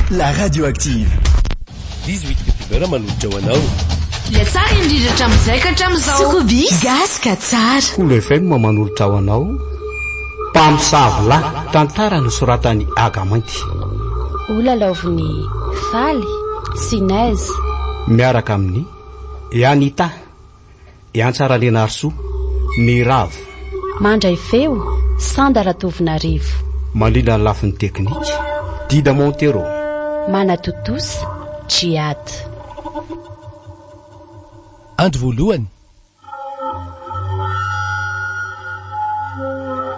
La radio active. Dix huit youtubeur manolotra ho anao. Ilay tsara indrindra hatramin'izay ka hatramin'izao. Sokobi gasy ka tsara. Cool FM manolotra ho anao Mpamosavy lahy. Tantara nosoratan'i Aga Mainty. Ho lalaovin'i Faly sy Nez. Miaraka amin'i Anita. Iantsa Ralianarisoa, Ny Ravo. Mandray feo, Sanda Ratovonarivo. Mandrindra ny lafiny teknika, Dida Montero. Manatontosa, Djihad. Andro voalohany.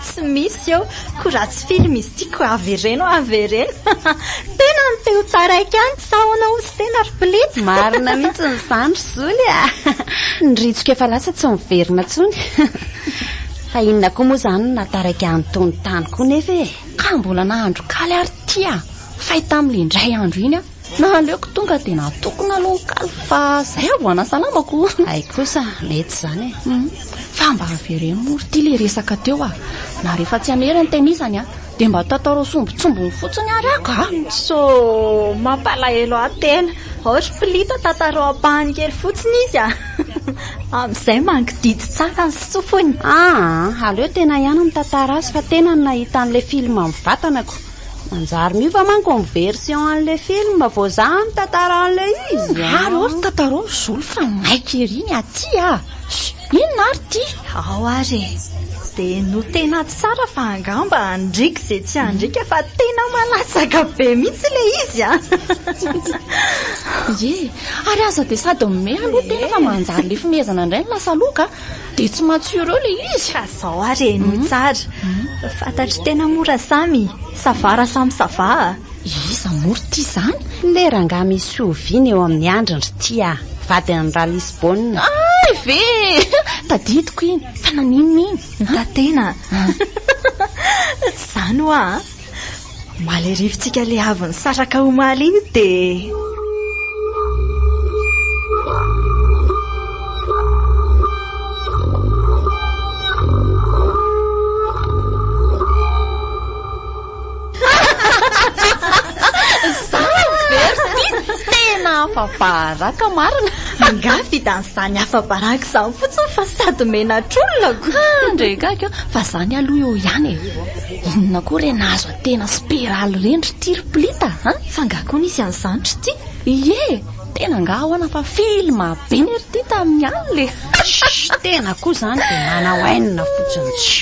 Tsy misy eo ko raha tsy film izy ity ko avereno avereno tena ny teo taraiky any sa ahoana ozy tena ry please. Marina mihitsy ny zany ry zoly a! Ny ritsoka efa lasa tsy miverina tsony fa inona koa moa zany no nataraiky any tony tany koa nefa e! Ka mbola nahandro kaly ary ty a! Fay tamly indray andro iny a! Naleoko tonga dia natokona aloha ny kalo fa zay aho vao hanasalamako. Hay kosa, mety izany e. Hum, fa mba avereno moa ry ty le resaka teo ah. Na rehefa tsy hamery ny tenisany ah, dia mba tataroy sombintsombiny fotsiny ary aho kah. So, mampalahelo ahy tena. Aory Pilita tataroy ampahany kely fotsiny izy ah. Amin'izay mangididy tsara ny sofiny. Aa, aleo tena ihany mitantara azy fa tena ny nahita an'ilay film mivatanako. Manjary miova manko ny version an'ilay film vao zah mitantara an'ilay izy a! Ary hoy ry Tatarao Zolo fa maika ery ny aty a! Inona ary ty? Ao ary e! Dia no tena tsara fa angamba handriaka izay tsy handriaka fa tena malatsaka be mihitsy ilay izy a! Ie, ary aza dia sady mihomehy aloha tena fa manjary lefimehezana indray ny lasa loka a! Dia tsy matsiro eo ilay izy. Ka zao ary e, no tsara. Fantatro tena mora samy. Savara samy savaha. Iza moa ry tia zany? Ilay rangahy misy fihoviana eo amin'ny andriny ry tia a. Vadin'ny ra Lisbona. Hay ve e! Tadidiko iny. Fa naninona iny? Notatena. Tsy izany hoa a. Malerivintsika le avy nisaraka omaly iny dia... afa-baraka marina. Angaha fidan'izany afa-baraka izany fotsiny fa sady menatr'olona ko. Ndrekaka fa izany aloha eo ihany e. Inona koa re nahazo antena speraly reny ry ty ry plita a? F'angaha koa nisy an'izany ry ty? Ie! Tena angaha ahoana fa film be ne ry ty tamin'ny alina e! Shh! Tena koa izany dia manao haine fotsiny tsy.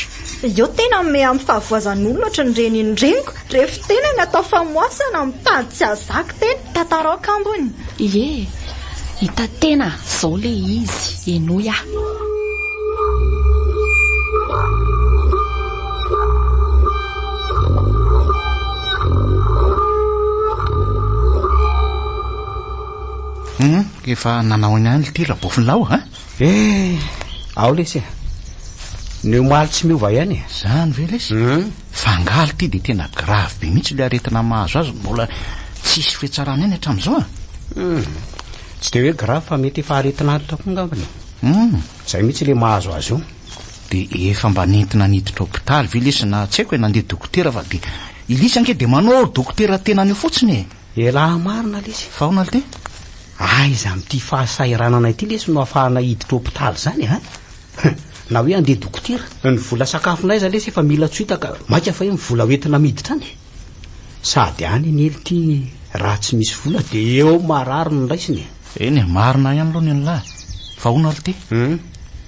Eo tena mihomehy amin'ny fahavoazan'olona ohatry ny renin'ny reniko, rehefa tena ny atao famoasana mitady tsy azak'tena. Tatarao kambony! Ie! Hita tena zao le izy, henoy ah! Humm! Efa nanao ihany ity rabofin'lahy o! Eh, ao lesy eh. Ny omaly tsy miova ihany eh. Zany ve lesy? Hmm. Fangaly ty dia tena grave be mihitsy ilay aretina mahazo azy mbola tsisy fetsarana any hatramin'izao ah. Hmm. Tsy dia hoe grave fa mety efa aretina antitra koa ngambany. Hmm. Zay mihitsy ilay mahazo azy io. Dia efa mba nentina niditra hopitaly ve lesy na tsy haiko e nandeha dokotera fa dia ilisy ange dia manao dokotera tenany io fotsiny e. Elah marina lesy fa aona lty? Aiza amty fahasahiranana ity lesy no afahana hiditra hopitaly zany a? Hum, na hoe andeha dokotera. Ny vola sakafonay aza lesy efa mila tsoita ka maika fa hoe ny vola hoentina miditra any? Sady any anie lty raha tsy misy vola de eo marary no raisina e. Eny e, marina ihany aloha ny anlah e. Fa aona lty? Hum.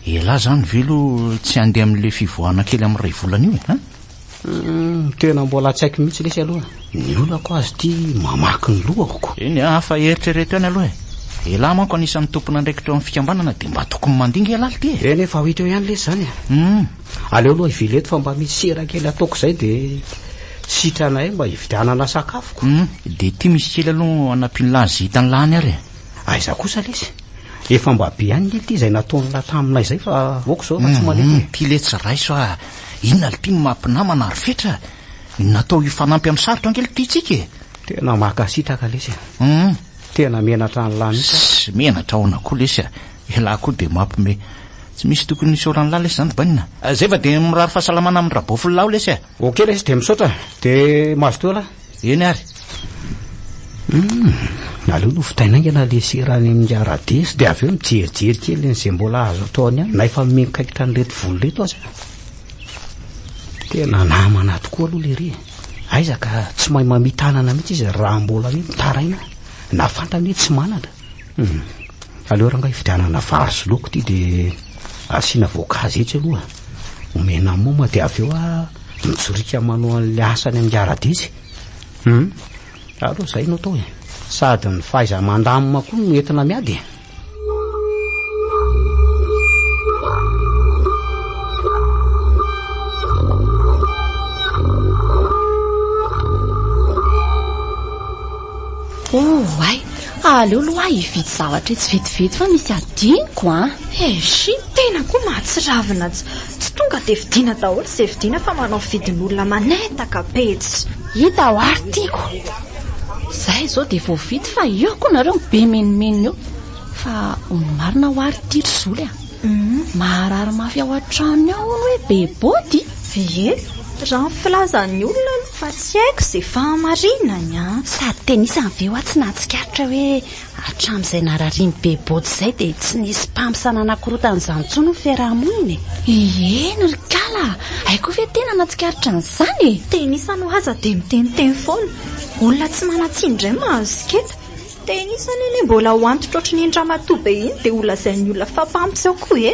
Elah zany ve lo tsy andeha amle fivoahana kely am ray volana io e? Hum. Tena mbola tsy haiko mihitsy lesy aloha ny olako azy ity mamaky ny lohako. Eny a, afa eritrereto ihany aloha e. Elah manko anisan'ny tompon'andraikitra eo amin'ny fikambanana dia mba tokony mandinga elah ity e. Eny efa ho hita eo ihany lesy izany e. Hum. Aleo aloha hivily eto fa mba misy sira kely ataoko izay dia sitranay mba hividianana sakafoko. Hum, dia ity misy kely aloha hanampian'lah izay hitan'lah any ary e. Aiza kosa lesy? Efa mba be ihany ny ity izay nataon'lah taminay izay fa aoka izao efa tsy mandeha. Ity lesy raiso a, Inona lty no maha mpinamana ary fetra ny natao hifanampy amin'ny sarotra angely ity tsika e. Tena makasitraka lesy a. Hum. Tena menatra an'lah mihitsy aho. Sy menatra aona koa lesy a. Elah koa dia mampme. Tsy misy tokony hisaoran'lah lesy zany bainina. Zay fa dia mirary fahasalamana amin'i Rabofinlah aho lesy a. Ok lesy dia misaotra. Dia mazotoa lah. Eny ary. Hum, aleo nofotaina haingana le sera any amin'ny Aradesy dia avy eo mijerijery kely an'izay mbola azo atao any aminy na efa miankaitra an'ireto voly ireto aza. Tena namana tokoa aloha lery e. Aiza ka tsy mahay mamitanana mihitsy izy raha mbola hoe mitaraina na fantany hoe tsy manana. Hum, aleo rangahy hividianana vary sy laoka ity dia asiana voankazo etsy aloha. omena moma dia avy eo a mijorika manao an'ilay asany amin'ny ara-didy hum aleo izay no atao e sady ny fahaiza mandamina koa no entina miady e Oh, ay, Fa aleo loahy hividy zavatra etsy vetivety fa misy adinoko an! Eish, ny tena koa mahatsiravina ts, tsy tonga dia vidiana daholo izay vidiana fa manao vidin'olona manetaka be ts. Hita ho ary tiako. Zay izao dia voavidy fa eo koa nareo mibemenimenina eo. Fa ho ny marina ho ary ity ry zoly a. Maharary mafy ao an-tranony ao hono hoe be body? Ie, raha ny filazan'ny olona aloha fa tsy haiko izay fahamarinany an! Sady tenisany ve hoa tsy nahatsikaritra hoe hatramin'izay nararian'i be body izay dia tsy nisy mpamsa nanakorotana izany intsony ny fiaraha-monina e! Ieny ry kala a! Hay koa ve tena nahatsikaritra an'izany e! Tenisany hoa aza dia miteniteny foana, olona tsy manan-tsiny indray mahazo siketa. Dia iny izany anie mbola ho antitra ohatry ny iny ramatoa be iny dia ho lazain'ny olona fa mpamtsy ao koa e!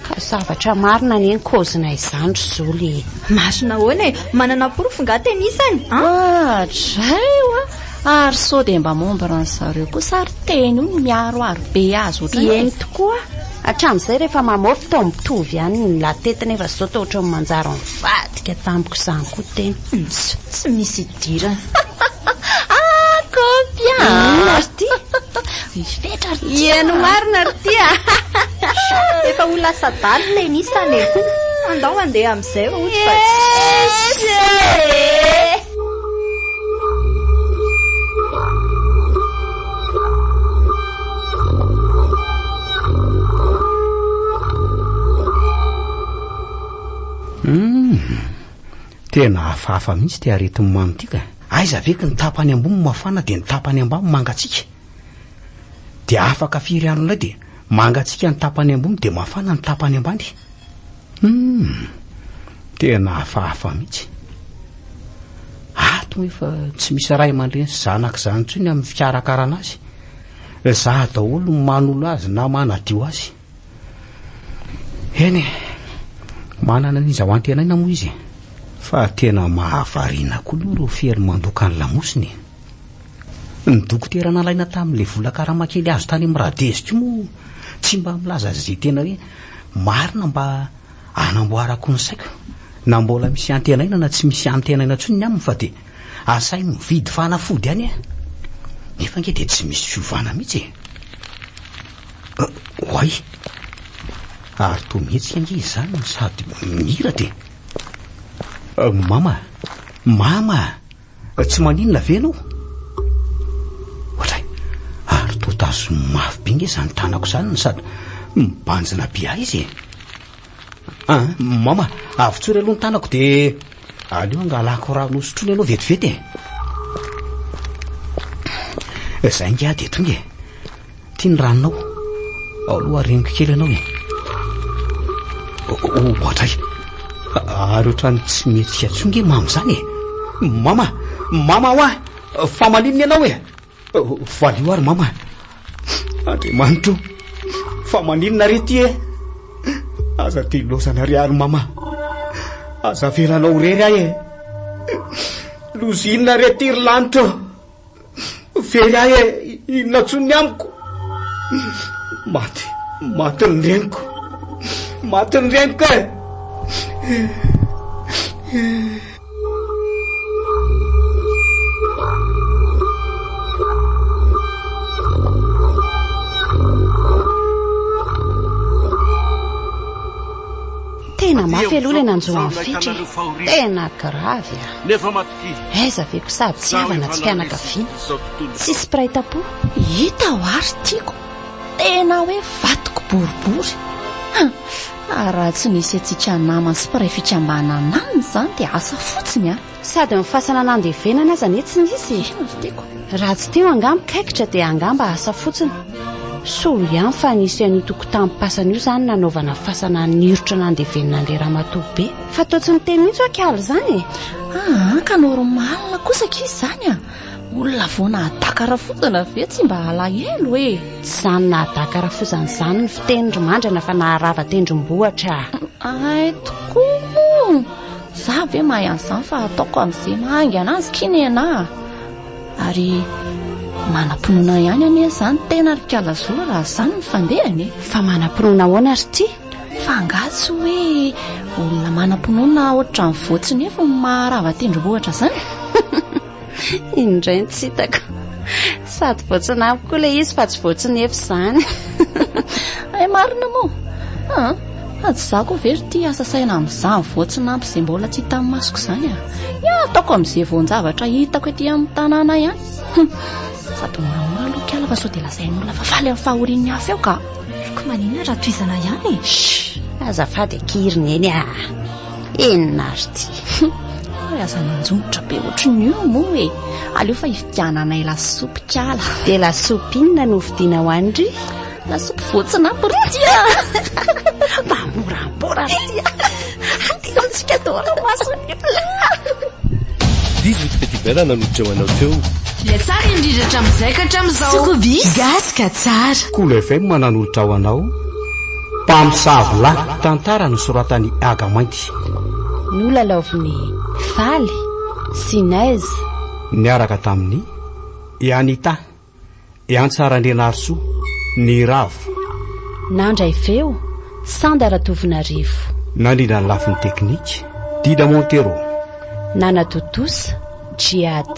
Ka zavatra marina anie ny kaozinay izany ry zoly e! Marina ahoana e? Manana porofo nga tena isany an? Adray oa! Ary sao dia mba membre an'zareo kosa ary teny io no miaro ary be azy ohatran'izay? Eny tokoa! Hatramin'izay rehefa mamôfy toa mitovy ihany ny lahy tety nefa izao toa ohatran'ny manjary mivadika tamiko izany koa tena. Ts, tsy misy idirana. Ah, kôpy a! Inona ry ty? Mifetra ry ty! Heno marina ry ty a! Efa ho lasa dahalo ilay nisy any e! Andao handeha amin'izay vao ohatry fa tsy. Ese! Hum, tena hafahafa mihitsy ty aretin'ny mamy ty ka. Aiza ve ka ny tapany ambony mafana dia ny tapany ambany mangatsiaka? Dia afaka firy andro indray dia mangatsiaka ny tapany ambony dia mafana ny tapany ambany? Hum, tena hafahafa mihitsy. Ato efa tsy misy ray aman-dreny sy zanaka izany intsony amin'ny fikarakarana azy. Ezaha daholo ny manolo azy na manadio azy. Eny e, manana ny zawan-tenaina moa izy e. Fa tena mahavariana koa aloha ireo fery mandoka ny lamosiny e. Ny dokotera nalaina tamin'ilay vola karama kely azo tany amin'ny Radez koa moa tsy mba milaza izay tena hoe marina mba hanamboarako ny saiko na mbola misy antenaina na tsy misy antenaina intsony ny aminy fa dia Asainy mividy fanafody any eh. Nefa ange dia tsy misy fiovana mihitsy e. Euh, oay. Ary toa mihetsika ange izany no sady miratra e. Euh, mama, mama, tsy maninona ve ianao? Ohatray, ary toa tazoniny mafy be ange izany tanako izany no sady mibanjina be ahy izy e. Ah, mama, avotsory aloha ny tanako dia aleo hangalako rano hosotroina ianao vetivety e. Eh, zay ingahy dia tonga e. Ty ny ranonao. Aloha reniko kely ianao e. Ohatray. Ary ohatrany tsy mety atsonge mama izany e. Mama, mama hoa, famalinina ianao e. Valio ary mama Andriamanitra o Fa maninona re ty e Aza dilozana re ary mama Aza avelanao rery ahy e Lozinina re ty ry lanitra Very ahy e Inona tsony ny amiko Maty Maty ny reniko Maty ny reniko e Tena mafy aloha ilay nanjo an'i Fitry e. Tena gravy a. Ah. Nefa matokia. Aiza ve ko sady tsy havana tsy mpianakaviana. Tsy spray tapo. Hita ho ary tiako. Tena hoe vatoko boribory. Ah, raha tsy nisy antsika namany sy mpiray fikambanana aminy izany dia asa fotsiny an! Sady ny fasana nandevenana aza anie tsy nisy e! Inona ry tiako? Raha tsy teo angaha mikaikitra dia angamba asa fotsiny. Soa ihany fa nisy an'io tokotanim-pasana io izany nanaovana fasana nirotra nandevenina an'ilay ramatoa be. Fa toa tsy niteny mihitsy ho'a k'ala izany e! Aa, ka normal kosa ankizy izany an! Olona vao nahadaka rafozana ve tsy mba alahelo e? Tsy izany nahadaka rafozana izany ny fiteny ry mandrana fa naharava tendrombohitra. Ay tokoa moa. Za ve mahay an'izany fa ataoko amin'izay mahaingana azy ky nena. Ary manam-pinoana ihany anie izany tena ry Kalazola raha izany ny fandehany e. Fa manam-pinoana ahoana ry tia? Fa angaha tsy hoe olona manam-pinoana ohatran'ny voatsinefy no maharava tendrombohitra izany? Indray ny tsy hitako. Sady voatsinafy koa ilay izy fa tsy voatsinefy izany. Ay marina moa. Ah, fa tsy za koa ve ry tia asa saina amin'izany voatsinampy izay mbola tsy hitan'ny masoko izany ah. Ny ataoko amin'izay voan-javatra hitako ety amin'ny tanàna ihany. Sady moramora aloha kiala fa sao dia lazain'olona fa faly amin'ny fahorian'ny hafa eo ka. Haiko maninona raha tohizana ihany e. Shh! Azafady akia ry neny a. Inona ary ity? Ary aza manjomotra be ohatry ny io moa e. Aleo fa hividiananay lasopy kala. Dia lasopy inona no hovidiana ho any ry? Lasopy voatsinampy ry tia. Mba moramora ry tia. Antsika daholo mason'ny Dix-huit petit bella nanotreo anao teo. Dia tsara indrindra hatramin'izay ka hatramin'izao. Sokobis gasy ka tsara. Cool FM nanolotra ho anao Mpamosavy lahy. Tantara nosoratan'i Aga Mainty. Nolalaovin'i Faly sy Nez. Niaraka tamin'i Anita. I Antsa Randrianarisoa, Ny Ravo. Nandray feo, Sanda Ratovonarivo. Nandrindra ny lafiny teknika, Dida Montero. Nanatontosa, Djihad.